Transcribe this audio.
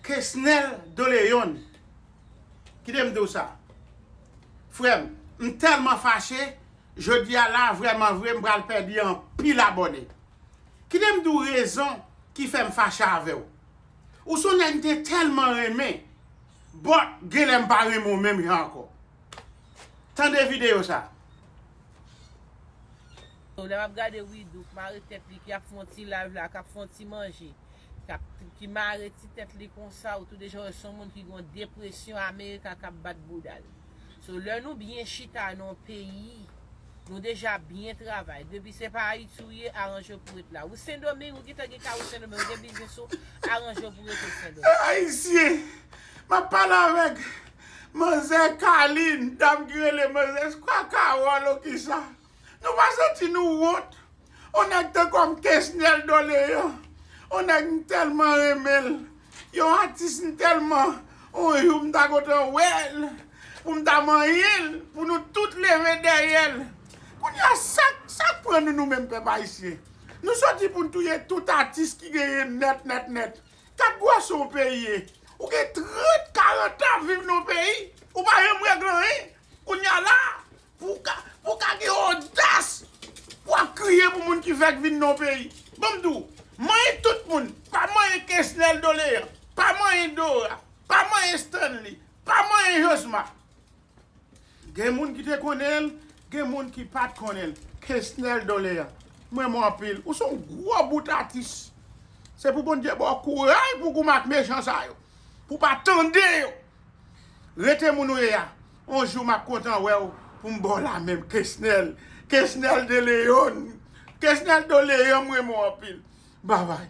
Kesnel Doleon kite m di w sa frè m, m tèlman fache jodi a la vrèman vre m pral pèdi anpil abòne kite m di w rezon ki fè m fache avè w ou s on nèg m te tèlman renmen but genlè m pa renmen w menm jan ankò tande videyo sa. Lè map gade widoo k mare tèt li ki ap fon ti live la kap fon ti manje kap ki mare ti tèt li konsa ou tou deja wè son moun ki gon depresyon america kap bat boudal so lè nou byen chita nan peyi nou deja byen travay depi se pa ayiti ou ye aranjew pou ret la ou sendoming ou gentan gen kay ou sendoming ou gen biznis ou aranjew pou rete sendoming. Eeh ayisyen Map pale avèk manzè Carline dam ki rele manzè je crois Carole ou kisa. Nou pa santi nou wont? On nèg te kòm kesnel dolean on nèg m tèlman renmen l yon atis m tèlman on jou m ta kontan wè l pou m ta manyen l pou nou tout leve dèyè l kounya sak sak pran nou nou menm pèp ayisyen nou sòti pou n touye tout atis ki genyen nèt nèt nèt kat bwason w peyi ye ou gen 30 40 tan viv nan w peyi ou pa janm règle anyen kounya la Pou w ka pou w ka gen odas pou w ap kriye pou moun ki fèk vin nan yon peyi. Bon m di w, manyen tout moun, pa manyen Kesnel Dolean, pa manyen Dora, pa manyen Stanley, pa manyen Josma. Gen moun ki te konnen l, gen moun ki pa t konnen l. Kesnel Dolean, m renmen w anpil. Ou se yon gwo bout atis. Se pou Bondye ba w kouray pou w goumen ak mechan sa yo. Pou w pa tande yo. Rete moun ou ye a on jou map kontan wèw poum baw la men kesnel kesnel de león kesnel de león m renmen w anpil bye bye.